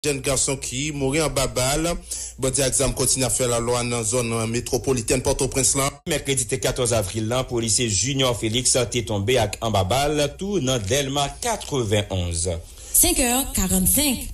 Jèn gason ki mouri anba bal bandi ak zam kontinye ap fè lalwa nan zòn metwopolitèn Pòtoprens lan. Mèkredi 14 avril lan, polisye Junior Felix te tonbe ak anba bal tou nan Dèlma 91. 5 è 45.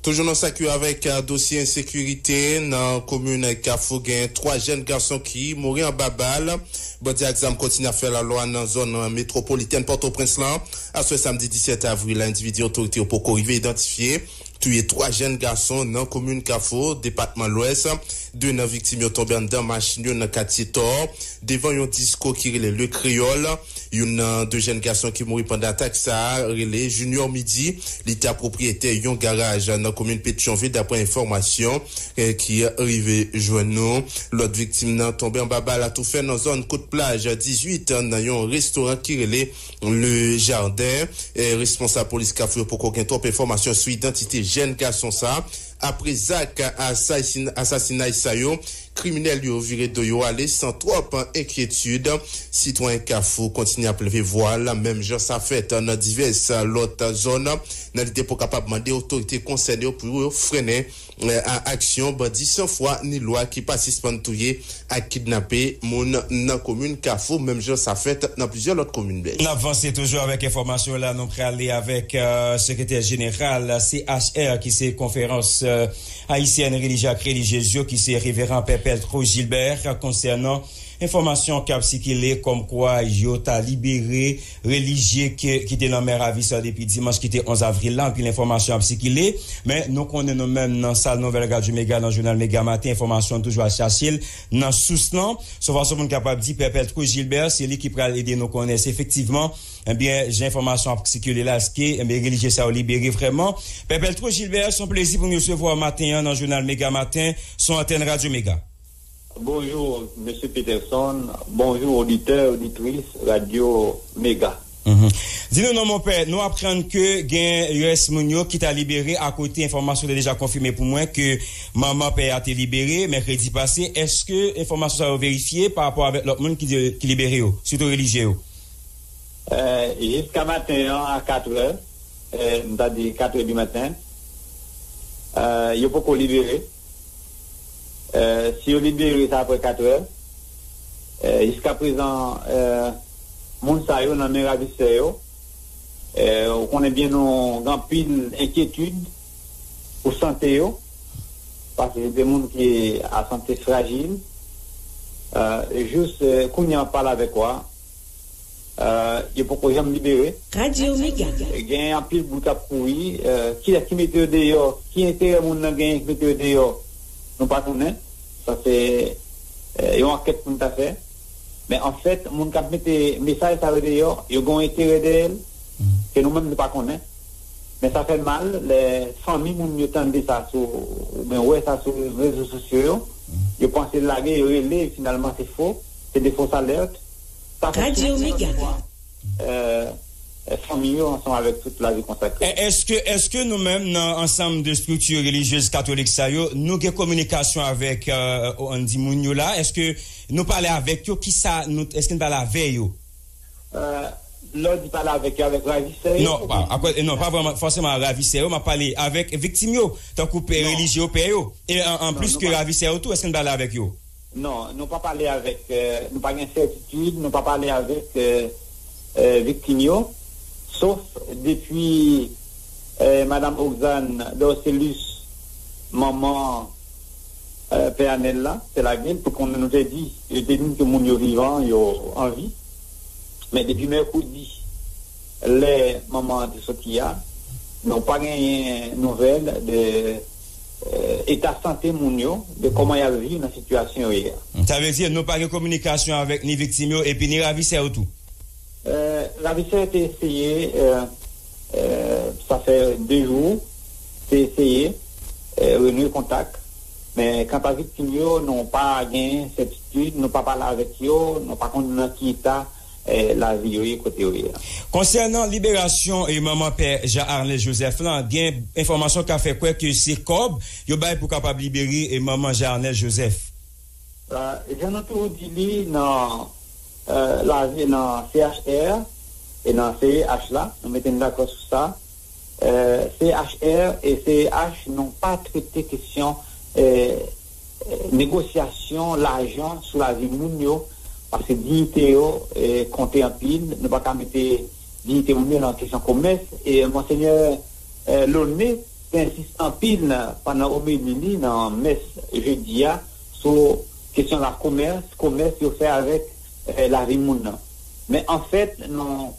Toujou nan sa ki avèk dosye ensekirite nan komin Kafou, gen 3 jèn gason ki mouri anba bal bandi ak zam kontinye ap fè lalwa nan zòn metwopolitèn Pòtoprens lan. Aswè samdi 17 avril la endividi otorite yo poko rive idantifye touye 3 jèn gason nan komin Kafou, depatman Lwès. 2 nan viktim yo tonbe anndan machin yo nan katye Tò, devan yon disko ki rele Le Creole. Youn nan 2 jèn gason ki mouri pandan atak sa a rele Junior Midi, li ta pwopriyetè yon garaj nan komin Petyonvil daprè enfòmasyon ki rive jwenn nou. Lòt viktim nan tonbe anba bal atoufè nan zòn Kout Plaj 18 nan yon restoran ki rele. Le Jardin, Responsab polis Kafou yo poko gen twòp enfòmasyon sou idantite jèn gason sa. Apre zak asasinay sa yo, kriminèl yo vire do yo ale san twòp enkyetid. Sitwayen Kafou kontinye ap leve vwa l, menm jan sa fèt nan divès lòt zòn, nan lide pou kapab mande otorite konsène yo pou yo frennen A Aksyon bandi san fwa ni lwa ki pa sispann touye ak kidnape moun nan komin Kafou menm jan sa fèt nan plizyè lòt komin. Nap vanse toujou avèk enfòmasyon yo la nou prale avèk sekretè jeneral CHR ki se konferans ayisyèn relijye ak relijyez yo ki se reveran pè Pèl Tro Jilbè konsènan enfòmasyon kap sikile kòm kwa yo ta libere relijye ke ki te nan men ravisè depi dimanch ki te 11 avril la, anpil enfòmasyon ap sikile, men nou konnen nou menm nan sal nouvèl radyo mega nan jounal mega maten enfòmasyon toujou al chache l nan sous lan, son fason pou n kapab di pè Peltro Gilbert se li ki pral ede nou konnen si efektivman ebyen jan enfòmasyon ap sikile la eske ebyen relijye sa yo libere vrèman pè Peltro Gilbert son plezi pou m resevwa w maten an nan jounal mega maten sou antèn radyo mega. Bonjour Mesye Peterson, bonjour oditè, oditris Radio Mega. Di nou non mon pè, nou aprann ke gen rès moun yo ki ta libere a kote enfòmasyon te deja konfime pou mwen ke manman pè a te libere mèkredi pase, eske enfòmasyon sa yo verifye pa rapò avèk lòt moun ki di ki libere yo, sitou relijye yo? Jiska maten an a 4 è, m ta di 4 è di maten, yo poko libere. Si yo libere sa aprè 4 è, jiska prezan moun sa yo nan men ravisè yo, ou konnen byen nou gen anpil enkyetid pou sante yo, paske se de moun ki a sante frajil, jous kounye an wap pale avèk ou a, Yo poko janm libere. Radio mega. Gen anpil bout kap kouri kiyès ki mete yo deyò ki enterè moun nan genyen ki mete yo deyò nou pa konnen sa se yon ankèt poun ta fè men anfèt moun kap mete mesaj sa yo deyò yo gen yon enterè dèyèl ke nou menm nou pa konnen men sa fè mal lè fanmi moun yo tande sa sou ou byen wè sa sou rezo sosyo yo yo panse lage yo rele finalman se fo se de fos alèrt. Radio Megane. Èske fanmi yo ansanm avèk tout lavi konsakre yo? Èske èske nou menm nan ansanm de estrikti relijyez katolik sa yo nou gen kominikasyon avèk an di moun yo la èske nou pale avèk yo ki sa nou èske nou pale avè yo? Lè w di pale avèk yo avèk ravisè yo? Non pa akwè non pa vrèman fòseman ravisè yo m ap pale avèk viktim yo tankou pè relijye yo pè yo e an plis ke ravisè yo tou èske nou pale avèk yo? Non, nou pa pale avèk, nou pa gen sètitid, nou pa pale avèk viktim yo, sof depi Madam Oxane Dorcelus, manman Pè Anèl la, te lage l, te konnen nou te di, yo te di n ke moun yo vivan, yo anvi. Men depi mèkredi, lè manman an te soti a, nou pa genyen nouvèl de. eta sante moun yo, de kòman y ap viv nan sitiyasyon yo ye a. Sa vle di nou pa gen kominikasyon avèk ni viktim yo epi ni ravisè yo tou? Ravisè yo te eseye, sa fè 2 jou, te eseye renouye kontak, men kant a viktim yo, nou pa gen sètitid, nou pa pale avèk yo, nou pa konn nan ki eta. lavi yo ye kote yo ye a. Konsènan liberasyon manman pè Jean Arnel Joseph lan, gen enfòmasyon ka fè kwè ke se kòb yo bay pou kapab libere manman Jean Arnel Joseph. Jan nou toujou di li nan lavi nan CHR e nan CEH la, nou mete nou dakò sou sa, CHR e CEH nou pa trete kesyon negosyasyon lajan sou lavi moun yo paske diyite yo konte anpil nou pa ka mete diyite moun yo nan kesyon komès e Monsenyè Launné te ensis anpil pandan omeli li nan mès jedi a sou kesyon lakomès komès yo fè avèk lavi moun nan. Men anfèt nou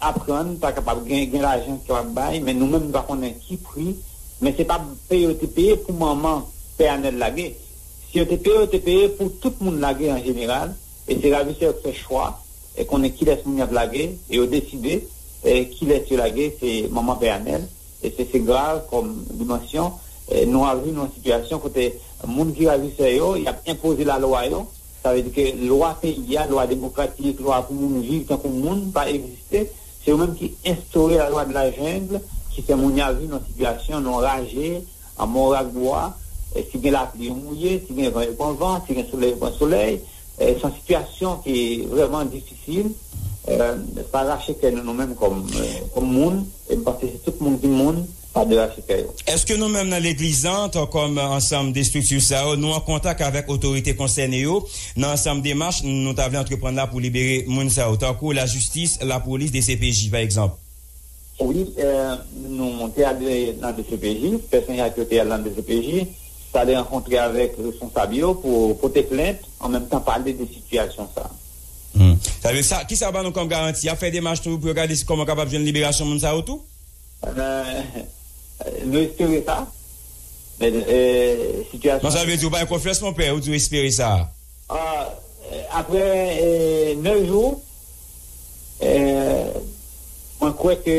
aprann pa kapab gen gen lajan ki kapab bay men nou menm nou pa konnen ki pri men se pa peye yo te peye pou manman pè Anèl lage. Si yo te peye yo te peye pou tout moun lage an jeneral e se ravisè yo ki fè chwa e konnen kilès moun y ap lage e yo deside kilès yo lage se manman pè Anèl e se se grav kòm dimansyon nou avi nan yon sitiyasyon kote moun ki ravisè yo y ap enpoze lalwa yo. Sa vle di ke lwa peyi a, lwa demokratik, lwa pou moun viv tankou moun pa egziste. Se yo menm ki enstore la lwa de la jungle ki fè moun ya viv nan sitiyasyon nan raje, an mò rak bwa. Si gen lapli yo mouye, si gen van yo pran van, si gen solèy yo pran solèy. Se yon sitiyasyon ki vrèman difisil. Sa rache kè nou nou menm kòm moun. E m panse si tout moun ki moun. pa derache kè yo. Èske nou menm nan Legliz lan, antan kòm ansanm de estrikti sa yo, nou an kontak avèk otorite konsène yo nan ansanm demach nou ta vle antreprann la pou libere moun sa yo, tankou lajistis, lapolis, dcpj, pa egzanp? Wi, nou monte ale nan dcpj, pèsonèl ak yo te al nan dcpj, t ale rankontre avèk responsab yo pou pote plent, an menm tan pale de sitiyasyon sa a. Sa vle di sa, kisa ban nou kòm garanti? Y ap fè demach tou pou yo gade si kòman yo kapab jwenn liberasyon moun sa yo tou? Nou espere sa. Men sitiyasyon. Konsa vle di ou bay konfyans mon pè ou di ou espere sa. Aprè 9 jou mwen kwè ke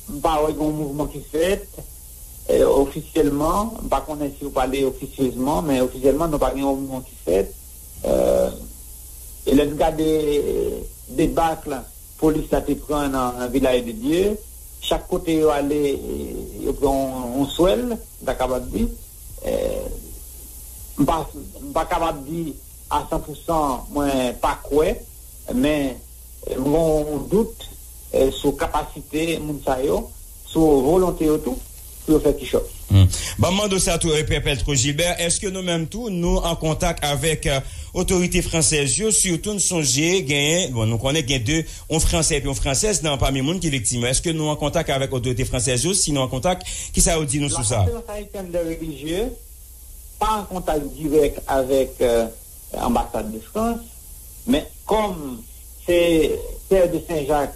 m pa wè gen yon mouvman ki fèt ofisyèlman, m pa konnen si ou pale ofisyezman men ofisyèlman nou pa gen yon mouvman ki fèt e lè n gade debakl. Polis la te pran nan Vilaj de Dye. Chak kote yo ale, yo pran yon swèl, m ta kapab di. M pa kapab di a san pou san mwen pa kwè, men m gen yon dout sou kapasite moun sa yo. Sou volonte yo tou pou yo fè kichòt. Banm mande w sa tou Epèpèl Trojilbè, èske nou menm tou nou an kontak avèk otorite fransèz yo, sitou n sonje genyen, bon nou konnen gen 2, yon fransè epi yon fransèz nan pami moun ki viktim yo, èske nou an kontak avèk otorite fransèz yo, si nou an kontak, kisa yo di nou sou sa? La Conférence Haïtienne des Religieux pa an kontak dirèk avèk anbasad de Frans, men kòm se Pè de Sen Jak.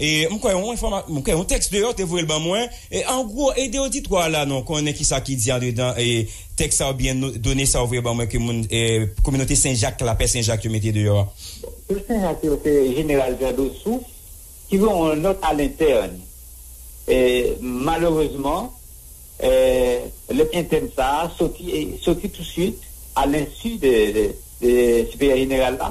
E m kwè yon enfoma, m kwè yon tèks deyò te voye l ban mwen. E an gwo, ede oditwa a la non konnen ki sa ki di andedan e tèks sa oubyen no, done sa ou voye ban mwen ke moun e kominote Sen Jak la, Pè Sen Jak yo mete deyò a. Bon, Pè Sen Jak yo se Jeneral Jan Dosou ki voye yon nòt a lentèn. E malerezman, e lèt entèn sa a soti e soti tousuit a lensu de de Siperyè Jeneral la.